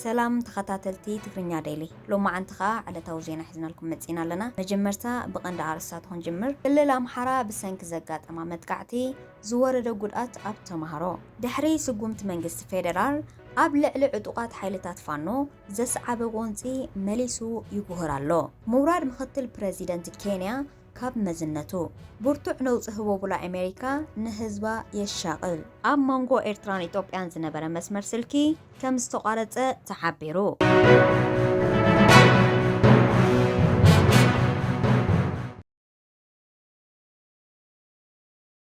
ሰላም ተኸታተልቲ ትግርኛ ዴሊ ሎማዓንቲ ከዓ ዕለታዊ ዜና ሒዝናልኩም መፂና ኣለና መጀመርታ ብቐንዲ ኣርስታት ክንጅምር ክልል ኣምሓራ ብሰንኪ ዘጋጠማ መጥቃዕቲ ዝወረደ ጉድኣት ኣብ ተምሃሮ ድሕሪ ስጉምቲ መንግስቲ ፌደራል ኣብ ልዕሊ ዕጡቓት ሓይልታት ፋኖ ዘስዓበ ጎንፂ መሊሱ ይጉህር ኣሎ። ምውራድ ምኽትል ፕረዚደንት ኬንያ ካብ መዝነቱ፣ ብርቱዕ ነውፂ ህቦቡላ ኣሜሪካ ንህዝባ የሻቕል። ኣብ መንጎ ኤርትራን ኢትዮጵያን ዝነበረ መስመር ስልኪ ከምዝተቋረፀ ተሓቢሩ።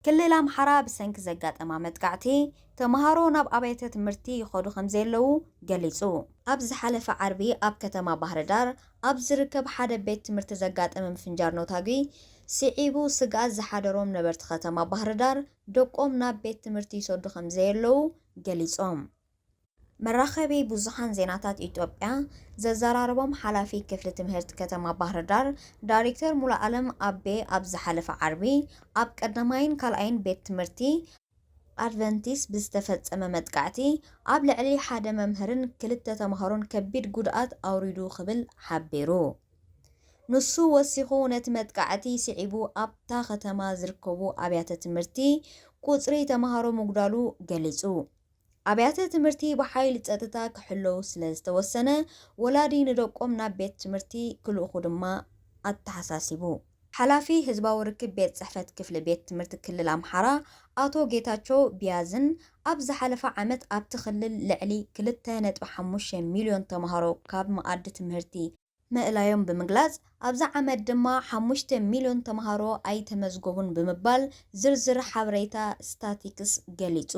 ክልል ኣምሓራ ብሰንኪ ዘጋጠማ መጥቃዕቲ ተምሃሮ ናብ ኣብያተ ትምህርቲ ይኸዱ ከምዘየለዉ ገሊጹ። ኣብ ዝሓለፈ ዓርቢ ኣብ ከተማ ባህርዳር ኣብ ዝርከብ ሓደ ቤት ትምህርቲ ዘጋጠመ ምፍንጃር ነውታጒ ስዒቡ ስግኣት ዝሓደሮም ነበርቲ ከተማ ባህርዳር ደቆም ናብ ቤት ትምህርቲ ይሰዱ ከምዘየለዉ ገሊጾም። መራኸቢ ብዙሓን ዜናታት ኢትዮጵያ ዘዘራረቦም ሓላፊ ክፍሊ ትምህርት ከተማ ባህርዳር ዳሪክተር ሙሉኣለም ኣቤ ኣብ ዝሓለፈ ዓርቢ ኣብ ቀዳማይን ካልኣይን ቤት ትምህርቲ ኣድቨንቲስት ብዝተፈፀመ መጥቃዕቲ ኣብ ልዕሊ ሓደ መምህርን ክልተ ተምሃሮን ከቢድ ጉድኣት ኣውሪዱ ክብል ሓቢሩ። ንሱ ወሲኹ ነቲ መጥቃዕቲ ስዒቡ ኣብታ ከተማ ዝርከቡ ኣብያተ ትምህርቲ ቁፅሪ ተምሃሮ ምጉዳሉ ገሊፁ። ኣብያተ ትምህርቲ ብሓይሊ ፀጥታ ክሕለዉ ስለ ዝተወሰነ ወላዲ ንደቆም ናብ ቤት ትምህርቲ ክልእኹ ድማ ኣተሓሳሲቡ። ሓላፊ ህዝባዊ ርክብ ቤት ፅሕፈት ክፍሊ ቤት ትምህርቲ ክልል ኣምሓራ ኣቶ ጌታቸው ቢያዝን ኣብ ዝሓለፈ ዓመት ኣብቲ ክልል ልዕሊ ክልተ ነጥቢ ሓሙሽተ ሚሊዮን ተምሃሮ ካብ መኣዲ ትምህርቲ ምእላዮም ብምግላፅ ኣብዚ ዓመት ድማ ሓሙሽተ ሚልዮን ተምሃሮ ኣይተመዝገቡን ብምባል ዝርዝር ሓበሬታ ስታቲክስ ገሊፁ።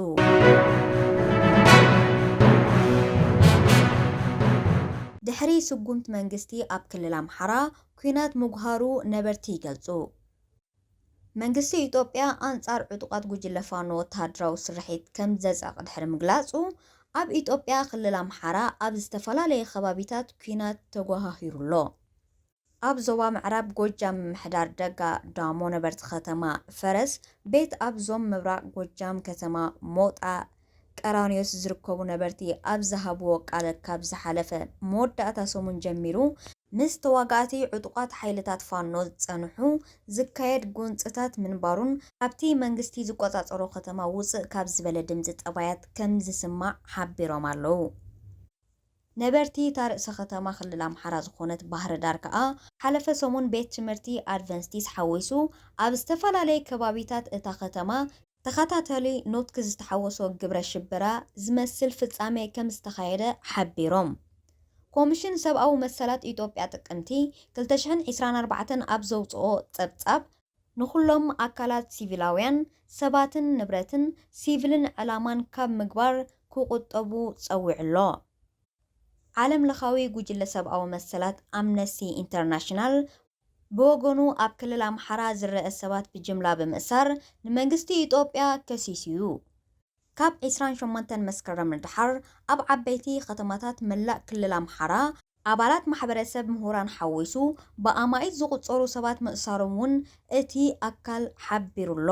ድሕሪ ስጉምቲ መንግስቲ ኣብ ክልል ኣምሓራ ኲናት ምጉሃሩ ነበርቲ ይገልፁ። መንግስቲ ኢትዮጵያ ኣንጻር ዕጡቓት ጉጅለ ፋኖ ወተሃደራዊ ስርሒት ከም ዘጸቕ ድሕሪ ምግላጹ፣ ኣብ ኢትዮጵያ ክልል ኣምሓራ ኣብ ዝተፈላለየ ከባቢታት ኲናት ተጎሃሂሩ ኣሎ። ኣብ ዞባ ምዕራብ ጎጃም ምምሕዳር ደጋ ዳሞ ነበርቲ ከተማ ፈረስ ቤት ኣብ ዞም ምብራቕ ጎጃም ከተማ ሞጣ፣ ቀራንዮስ ዝርከቡ ነበርቲ ኣብ ዝሃብዎ ቃል ካብ ዝሓለፈ መወዳእታ ሰሙን ጀሚሩ ምስ ተዋጋእቲ ዕጡቓት ሓይልታት ፋኖ ዝጸንሑ ዝካየድ ጎንጽታት ምንባሩን ካብቲ መንግስቲ ዝቆጻጸሮ ከተማ ውጽእ ካብ ዝበለ ድምጺ ጠባያት ከም ዝስማዕ ሓቢሮም ኣለዉ። ነበርቲ እታ ርእሰ ከተማ ክልል ኣምሓራ ዝኾነት ባህርዳር ከኣ፣ ሓለፈ ሰሙን ቤት ትምህርቲ ኣድቨንስቲስ ሓዊሱ ኣብ ዝተፈላለየ ከባቢታት እታ ከተማ፣ ተኸታታሊ ኖትክ ዝተሓወሶ ግብረ ሽበራ ዝመስል ፍጻሜ ከም ዝተኻየደ ሓቢሮም። ኮምሽን ሰብኣዊ መሰላት ኢትዮጵያ ጥቅምቲ ክልተ ሽሕን ዒስራን ኣርባዕተን ኣብ ዘውጽኦ ጸብጻብ፣ ንኹሎም ኣካላት ሲቪላውያን ሰባትን ንብረትን ሲቪልን ዕላማን ካብ ምግባር ክቑጠቡ ጸዊዑ'ሎ። ዓለምለኻዊ ጉጅለ ሰብኣዊ መሰላት ኣምነስቲ ኢንተርናሽናል ብወገኑ ኣብ ክልል ኣምሓራ ዝረኣ ሰባት ብጅምላ ብምእሳር ንመንግስቲ ኢጦጵያ ከሲሱ'ዩ። ካብ ዕስራን ሸሞንተን መስከረም ንደሓር ኣብ ዓበይቲ ከተማታት መላእ ክልል ኣምሓራ፣ ኣባላት ማሕበረሰብ ምሁራን ሓዊሱ ብኣማኢት ዝቑጸሩ ሰባት ምእሳሮም እውን እቲ ኣካል ሓቢሩ'ሎ።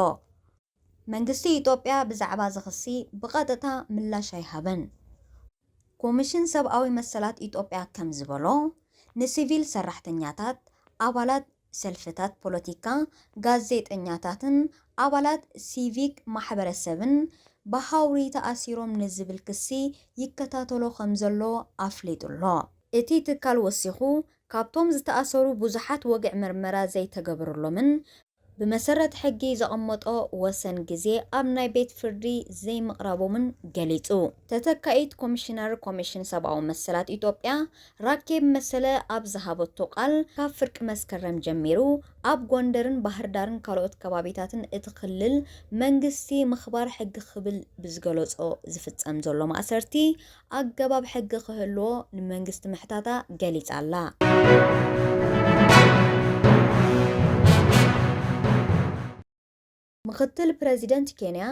መንግስቲ ኢትዮጵያ ብዛዕባ'ዚ ክሲ ብቐጥታ ምላሽ ኣይሃበን። ኮሚሽን ሰብኣዊ መሰላት ኢትዮጵያ ከምዝበሎ፣ ንሲቪል ሰራሕተኛታት፣ ኣባላት ሰልፍታት ፖለቲካ፣ ጋዜጠኛታትን ኣባላት ሲቪክ ማሕበረሰብን ብሃውሪ ተኣሲሮም ንዝብል ክሲ ይከታተሎ ከምዘሎ ኣፍሊጡ'ሎ። እቲ ትካል ወሲኹ፣ ካብቶም ዝተኣሰሩ ብዙሓት ወግዒ ምርመራ ዘይተገበረሎምን ብመሰረት ሕጊ ዘቐመጦ ወሰን ግዜ ኣብ ናይ ቤት ፍርዲ ዘይምቕራቦምን ገሊጹ። ተተካኢት ኮሚሽነር ኮሚሽን ሰብኣዊ መሰላት ኢትዮጵያ ራኬብ መሰለ ኣብ ዝሃበቶ ቃል፣ ካብ ፍርቂ መስከረም ጀሚሩ ኣብ ጎንደርን ባህርዳርን ካልኦት ከባቢታትን እቲ ክልል መንግስቲ ምኽባር ሕጊ ክብል ብዝገለጾ ዝፍጸም ዘሎ ማእሰርቲ ኣገባብ ሕጊ ክህልዎ ንመንግስቲ ምሕታታ ገሊጻ'ላ። ምኽትል ፕረዚደንት ኬንያ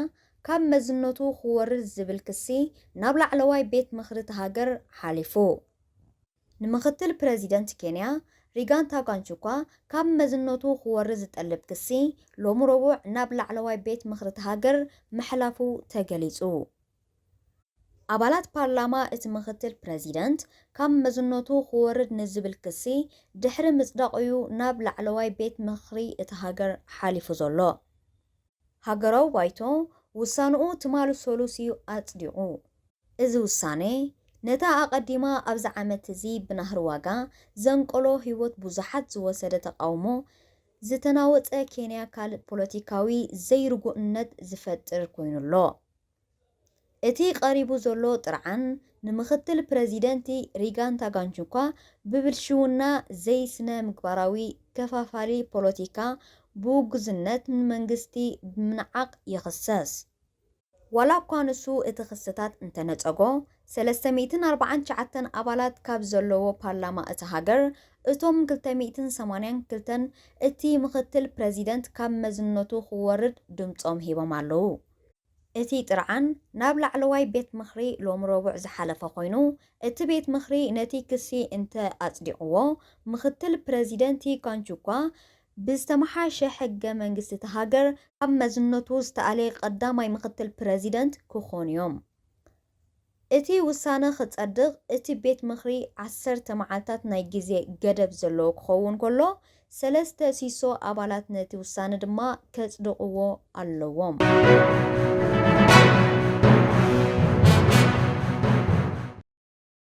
ካብ መዝነቱ ክወርድ ዝብል ክሲ ናብ ላዕለዋይ ቤት ምኽሪ'ታ ሃገር ሓሊፉ። ንምኽትል ፕረዚደንት ኬንያ ሪጋንታ ጋንቹኳ ካብ መዝነቱ ክወርድ ዝጠልብ ክሲ ሎሚ ረቡዕ ናብ ላዕለዋይ ቤት ምኽሪ'ታ ሃገር ምሕላፉ ተገሊጹ። ኣባላት ፓርላማ እቲ ምኽትል ፕረዚደንት ካብ መዝነቱ ክወርድ ንዝብል ክሲ ድሕሪ ምጽዳቑ'ዩ ናብ ላዕለዋይ ቤት ምኽሪ እታ ሃገር ሓሊፉ ዘሎ። ሃገራዊ ባይቶ ውሳነኡ ትማል ሰሉስ'ዩ ኣጽዲቑ። እዚ ውሳነ፣ ነታ ኣቐዲማ ኣብዚ ዓመት'ዚ ብናህሪ ዋጋ ዘንቀሎ ህይወት ብዙሓት ዝወሰደ ተቓውሞ ዝተናወጸ ኬንያ ካልእ ፖለቲካዊ ዘይርጉእነት ዝፈጥር ኮይኑ'ሎ። እቲ ቀሪቡ ዘሎ ጥርዓን ንምኽትል ፕረዚደንት ሪጋን ታጋንቹኳ ብብልሽውና፣ ዘይስነ ምግባራዊ ከፋፋሊ ፖለቲካ፣ ብውጉዝነት ንመንግስቲ ብምንዓቕ ይኽሰስ። ዋላኳ ንሱ እቲ ክስታት እንተነጸጎ፣ ሰለስተ ሚእትን ኣርባዓን ትሽዓተን ኣባላት ካብ ዘለዎ ፓርላማ እታ ሃገር፣ እቶም ክልተ ሚእትን ሰማንያን ክልተን እቲ ምኽትል ፕረዚደንት ካብ መዝነቱ ክወርድ ድምጾም ሂቦም ኣለዉ። እቲ ጥርዓን ናብ ላዕለዋይ ቤት ምኽሪ ሎሚ ረቡዕ ዝሓለፈ ኮይኑ፣ እቲ ቤት ምኽሪ ነቲ ክሲ እንተ ኣጽዲቕዎ፣ ምኽትል ፕረዚደንቲ ካንቹኳ ብዝተመሓየሸ ሕገ መንግስቲ እታ ሃገር ካብ መዝነቱ ዝተኣልየ ቀዳማይ ምኽትል ፕረዚደንት ክኾኑ'ዮም። እቲ ውሳነ ክጸድቕ እቲ ቤት ምኽሪ ዓሰርተ መዓልታት ናይ ግዜ ገደብ ዘለዎ ክኸውን ከሎ፣ ሰለስተ ሲሶ ኣባላት ነቲ ውሳነ ድማ ከጽድቕዎ ኣለዎም።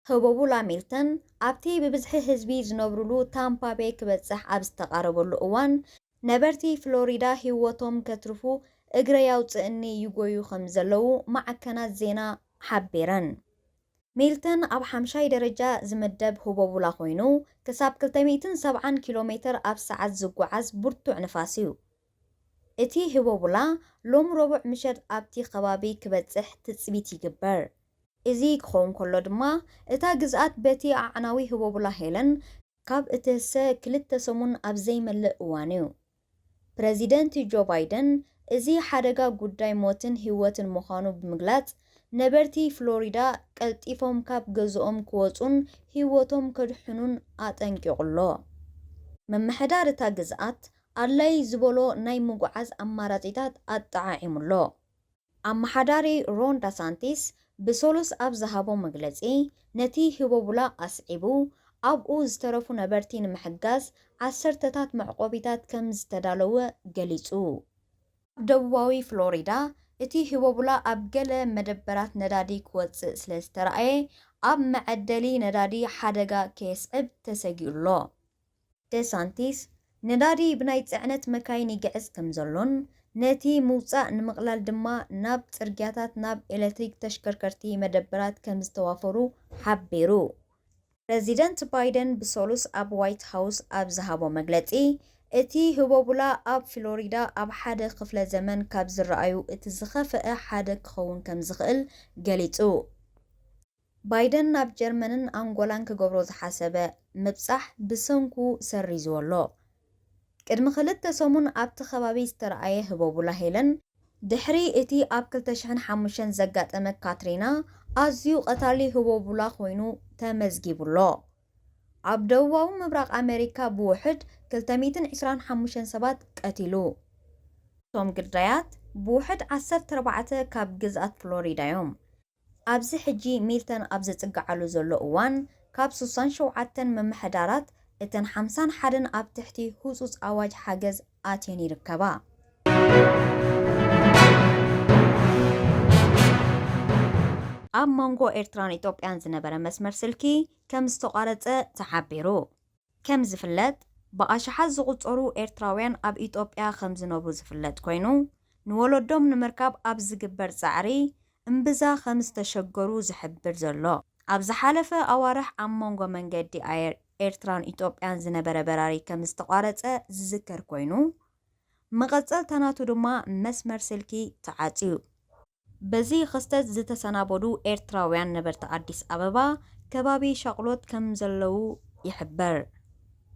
ህቦቡ ላሚልተን ኣብቲ ብብዝሒ ህዝቢ ዝነብሩሉ ታምፓ ቤይ ክበጽሕ ኣብ ዝተቓረበሉ እዋን፣ ነበርቲ ፍሎሪዳ ህይወቶም ከትርፉ እግረይ ኣውጽእኒ ይጎዩ ከምዘለዉ ማዕከናት ዜና ሓቢረን። ሚልተን ኣብ ሓምሻይ ደረጃ ዝምደብ ህቦቡላ ኮይኑ፣ ክሳብ ክልተ ሚእትን ሰብዓን ኪሎ ሜተር ኣብ ሰዓት ዝጓዓዝ ብርቱዕ ንፋስ እዩ። እቲ ህቦቡላ ሎሚ ረቡዕ ምሸት ኣብቲ ከባቢ ክበጽሕ ትጽቢት ይግበር። እዚ ክኸውን ከሎ ድማ እታ ግዝኣት በቲ ኣዕናዊ ህቦቡላ ሄለን ካብ እትህሰ ክልተ ሰሙን ኣብ ዘይመልእ እዋን'ዩ፣ ፕረዚደንት ጆ ባይደን እዚ ሓደጋ ጉዳይ ሞትን ህይወትን ምዃኑ ብምግላጽ፣ ነበርቲ ፍሎሪዳ ቀልጢፎም ካብ ገዝኦም ክወጹን ህይወቶም ከድሕኑን ኣጠንቂቑ'ሎ። ምምሕዳር እታ ግዝኣት ኣድላዪ ዝበሎ ናይ ምጉዓዝ ኣማራጺታት ኣጠዓዒሙ'ሎ። ኣመሓዳሪ ሮን ዳሳንቲስ ብሰሉስ ኣብ ዝሃቦ መግለጺ፣ ነቲ ህቦቡላ ኣስዒቡ፣ ኣብኡ ዝተረፉ ነበርቲ ንምሕጋዝ ዓሰርተታት መዕቆቢታት ከም ዝተዳለዉ ገሊጹ። ኣብ ደቡባዊ ፍሎሪዳ፣ እቲ ህቦቡላ ኣብ ገለ መደበራት ነዳዲ ክወጽእ ስለ ዝተራእየ፣ ኣብ መዐደሊ ነዳዲ ሓደጋ ከየስዕብ ተሰጊኡ'ሎ። ደሳንቲስ፣ ነዳዲ ብናይ ጽዕነት መካይን ይግዕዝ ከምዘሎን፣ ነቲ ምውጻእ ንምቕላል ድማ ናብ ጽርግያታት ናብ ኤለትሪክ ተሽከርከርቲ መደበራት ከምዝተዋፈሩ ሓቢሩ። ፕረዚደንት ባይደን ብሰሉስ ኣብ ዋይት ሃውስ ኣብ ዝሃቦ መግለጺ፣ እቲ ህቦቡላ ኣብ ፍሎሪዳ ኣብ ሓደ ክፍለ ዘመን ካብ ዝረኣዩ እቲ ዝኸፈኣ ሓደ ክኸውን ከምዝኽእል ገሊጹ። ባይደን ናብ ጀርመንን ኣንጎላን ክገብሮ ዝሓሰበ ምብጻሕ ብሰንኩ ሰሪዝዎ ኣሎ። ቅድሚ ክልተ ሰሙን ኣብቲ ከባቢ ዝተርኣየ ህቦቡላ ሄለን፣ ድሕሪ እቲ ኣብ ክልተ ሽሕን ሓሙሽተን ዘጋጠመ ካትሪና ኣዝዩ ቀታሊ ህቦቡላ ኮይኑ ተመዝጊቡ ኣሎ። ኣብ ደቡባዊ ምብራቕ ኣመሪካ ብውሑድ ክልተ ሚእትን ዕስራን ሓሙሽተን ሰባት ቀቲሉ። እቶም ግዳያት ብውሑድ ዓሰርተ ኣርባዕተ ካብ ግዝኣት ፍሎሪዳ'ዮም። ኣብዚ ሕጂ ሚልተን ኣብ ዝጽግዓሉ ዘሎ እዋን፣ ካብ ሱሳን ሸውዓተን ምምሕዳራት፣ እተን ሓምሳን ሓደን ኣብ ትሕቲ ህጹጽ ኣዋጅ ሓገዝ ኣትየን ይርከባ። ኣብ መንጎ ኤርትራን ኢትዮጵያን ዝነበረ መስመር ስልኪ ከምዝተቋረጸ ተሓቢሩ። ከም ዝፍለጥ ብኣሽሓት ዝቑጸሩ ኤርትራውያን ኣብ ኢትዮጵያ ከም ዝነብሩ ዝፍለጥ ኮይኑ፣ ንወለዶም ንምርካብ ኣብ ዝግበር ጻዕሪ እምብዛ ከም ዝተሸገሩ ዝሕብር ዘሎ። ኣብ ዝሓለፈ ኣዋርሕ ኣብ መንጎ መንገዲ ኣየር ኤርትራን ኢትዮጵያን ዝነበረ በራሪ ከም ዝተቋረጸ ዝዝከር ኮይኑ፣ መቐጸልታ ናቱ ድማ መስመር ስልኪ ተዓጽዩ። በዚ ኽስተት ዝተሰናበዱ ኤርትራውያን ነበርቲ ኣዲስ ኣበባ ከባቢ ሻቕሎት ከምዘለዉ ይሕበር።